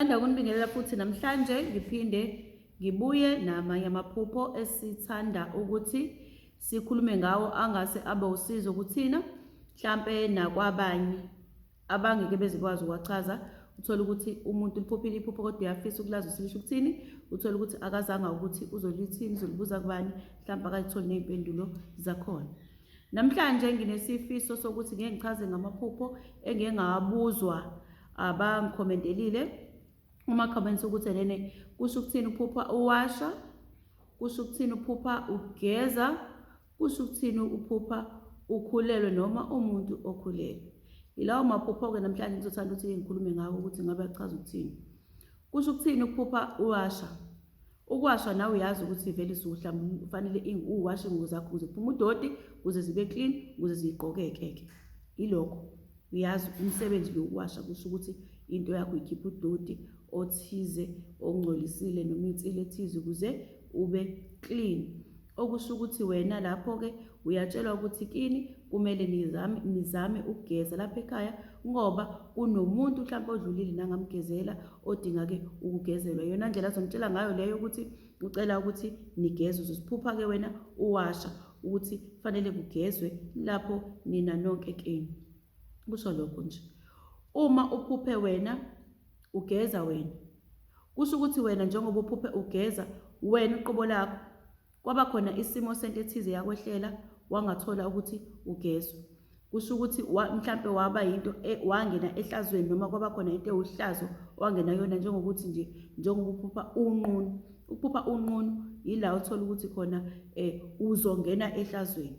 Ngithanda ukunibingelela futhi namhlanje ngiphinde ngibuye namanye amaphupho esithanda ukuthi sikhulume ngawo angase abe usizo kuthina mhlampe nakwabanye abangeke bezikwazi ukuwachaza uthole ukuthi umuntu liphophile iphupho kodwa uyafisa ukulazi ukuthi lisho ukuthini uthole ukuthi akazanga ukuthi uzolithini uzolibuza kubani mhlawumbe akazitholi ney'mpendulo zakhona namhlanje nginesifiso sokuthi ngeke ngichaze ngamaphupho engike ngawabuzwa abangikhomentelile uma comments ukuthi lene kusho ukuthini uphupha uwasha kusho ukuthini uphupha ugeza kusho ukuthini uphupha ukhulelwe noma umuntu okhulelwe yilawo maphupho-ke namhlanje ngizothanda ukuthi ngikhulume ngawo ukuthi ngabe achaza ukuthini kusho ukuthini ukuphupha uwasha Ukuwashwa nawe uyazi ukuthi vele suhla kufanele uwashe ingubo zakho ukuze kuphume udoti, ukuze zibe clean, ukuze zigqokeke-ke. Ilokho uyazi umsebenzi lo ukuwasha kusho ukuthi into yakho ikhipha udoti othize ongcolisile noma insile ethize ukuze ube clean. okusho ukuthi wena lapho-ke uyatshelwa ukuthi kini kumele nizame, nizame ukugeza lapha ekhaya ngoba kunomuntu mhlawumpe odlulile nangamgezela odinga-ke ukugezelwa yona ndlela azonitshela ngayo leyo ukuthi ucela ukuthi nigeze uzosiphupha-ke wena uwasha ukuthi kufanele kugezwe lapho nina nonke kini kusho lokho nje uma uphuphe wena ugeza wena kusho ukuthi wena njengoba uphuphe ugeza wena uqobo lakho kwaba khona isimo sento ethize yakwehlela wangathola ukuthi ugezwa kusho ukuthi mhlampe waba yinto e, wangena ehlazweni noma kwaba khona into ewuhlazo wangena yona njengokuthi nje njengoba uphupha unqunu ukuphupha unqunu yila uthola ukuthi khona um uzongena ehlazweni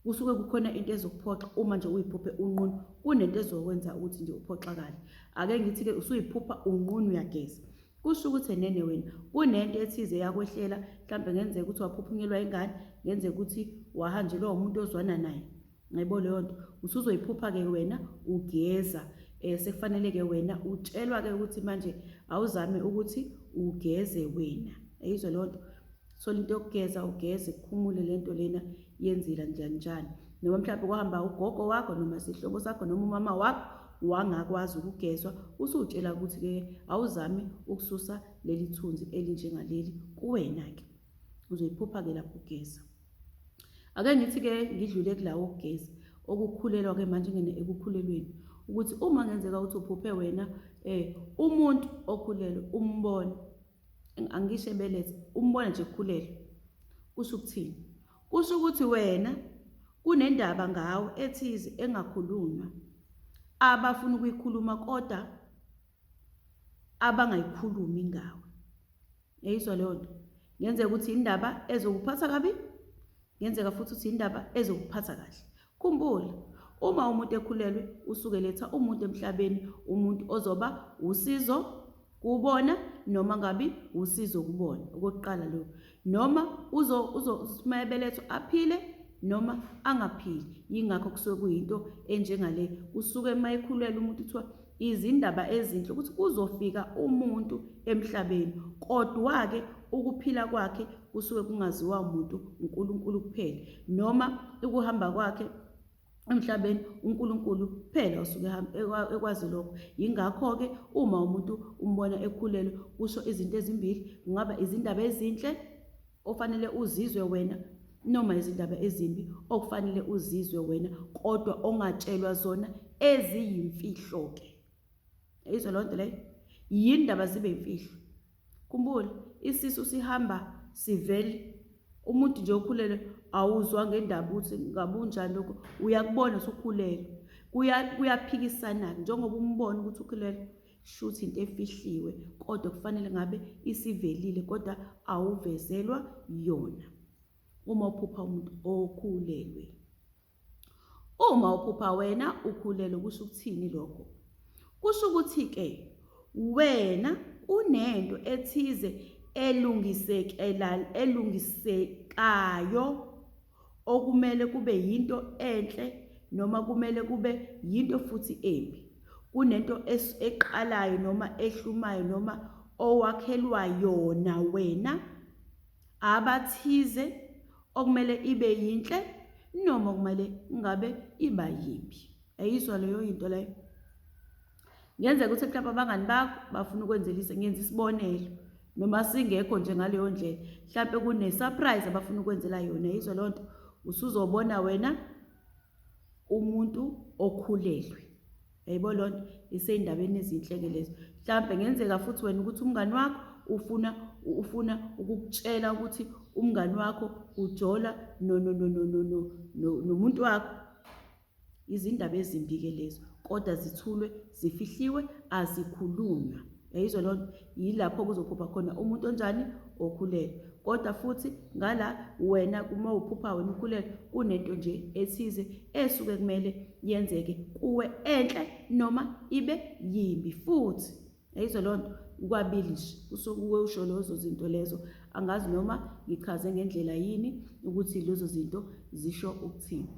kusuke kukhona into ezokuphoxa uma nje uyiphuphe unqunu kunento ezokwenza ukuthi nje uphoxakale ake ngithi-ke usuyiphupha unqunu uyageza kusho ukuthi enene wena kunento ethize yakwehlela mhlawumbe ngenzeka ukuthi waphuphunyelwa ingane ngenzeka ukuthi wahanjelwa umuntu ozwana naye ngibo leyo nto usuzoyiphupha-ke wena ugeza um sekufanele-ke wena utshelwa-ke ukuthi manje awuzame ukuthi ugeze wena eyizwe leyo nto thola into yokugeza ugeze kukhumule lento lena yenzila njani njani noma mhlawumbe kuhamba ugogo wakho noma sihlobo sakho noma umama wakho wangakwazi ukugezwa usutshela ukuthi ke awuzami ukususa leli thunzi elinjengaleli kuwena ke uzoyiphupha ke lapho ugeza ake ngithi ke ngidlule kulawo okugeza okukhulelwa ke manje ngene ekukhulelweni ukuthi uma ngenzeka ukuthi uphuphe wena eh umuntu okhulelwe umbone angisho ebelethe umbona nje ekhulelwe kusho ukuthini kusho ukuthi wena kunendaba ngawe ethize engakhulunywa abafuna ukuyikhuluma kodwa abangayikhulumi ngawe yayizwa leyo nto ngenzeka ukuthi indaba ezokuphatha kabi ngenzeka futhi ukuthi indaba ezokuphatha kahle Khumbula, uma umuntu ekhulelwe usuke eletha umuntu emhlabeni, umuntu ozoba usizo kubona noma ngabi usizo kubona okokuqala lo noma uzo uzo uma ebelethwa aphile noma angaphili yingakho kusuke kuyinto enjengale usuke uma ekhulelwe umuntu kuthiwa Izindaba ezinhle ukuthi kuzofika umuntu emhlabeni, kodwa-ke ukuphila kwakhe kusuke kungaziwa muntu, uNkulunkulu kuphela, noma ukuhamba kwakhe emhlabeni uNkulunkulu kuphela osuke ekwazi lokho. Yingakho-ke uma umuntu umbona ekhulelwe kusho izinto ezimbili, kungaba izindaba ezinhle ofanele uzizwe wena noma izindaba ezimbi okufanele uzizwe wena kodwa ongatshelwa zona eziyimfihlo ke izwe lonto leyo yindaba zibe imfihlo kumbula isisu sihamba sivele umuntu nje okhulele awuzwa ngendaba ukuthi ngabunjani lokho uyakubona usukhulele kuyaphikisana-ke njengoba umbona ukuthi ukhulele shuthi into efihliwe kodwa kufanele ngabe isivelile kodwa awuvezelwa yona uma uphupha umuntu okhulelwe uma uphupha wena ukhulelwe kusho ukuthini lokho kusho ukuthi ke wena unento ethize elungisekela elungisekayo okumele kube yinto enhle noma kumele kube yinto futhi embi, kunento eqalayo noma ehlumayo noma owakhelwa yona wena, abathize, okumele ibe yinhle noma okumele ngabe iba yimbi. Ayizwa leyo yinto leyo? Kungenzeka ukuthi mhlawumbe abangani bakho bafuna ukwenzelisa ngenza isibonelo noma singekho nje ngaleyo ndlela mhlawumbe kune-surprise abafuna ukwenzela yona yizo loo nto usuzobona wena umuntu okhulelwe yayibo loo nto isey'ndabeni ezinhle-ke lezo mhlawumbe ngenzeka futhi wena ukuthi umngani wakho ufuna ufuna ukukutshela ukuthi umngani wakho ujola nomuntu wakho Izindaba ezimbi-ke lezo, kodwa zithulwe, zifihliwe, azikhulunywa. Yayizwa loo nto? Yilapho kuzophupha khona umuntu onjani? Okhulelwe. Kodwa futhi ngala wena uma uphupha wena ukhulelwe, kunento nje ethize esuke kumele yenzeke kuwe enhle noma ibe yimbi futhi. Ayizwa loo nto ukwabilish kusokuwe usho lezo zinto lezo angazi noma ngichaze ngendlela yini ukuthi lezo zinto zisho ukuthini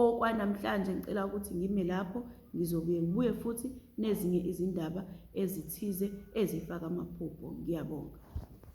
okwanamhlanje ngicela ukuthi ngime lapho ngizobuye ngibuye futhi nezinye izindaba ezithize ezifaka amaphupho ngiyabonga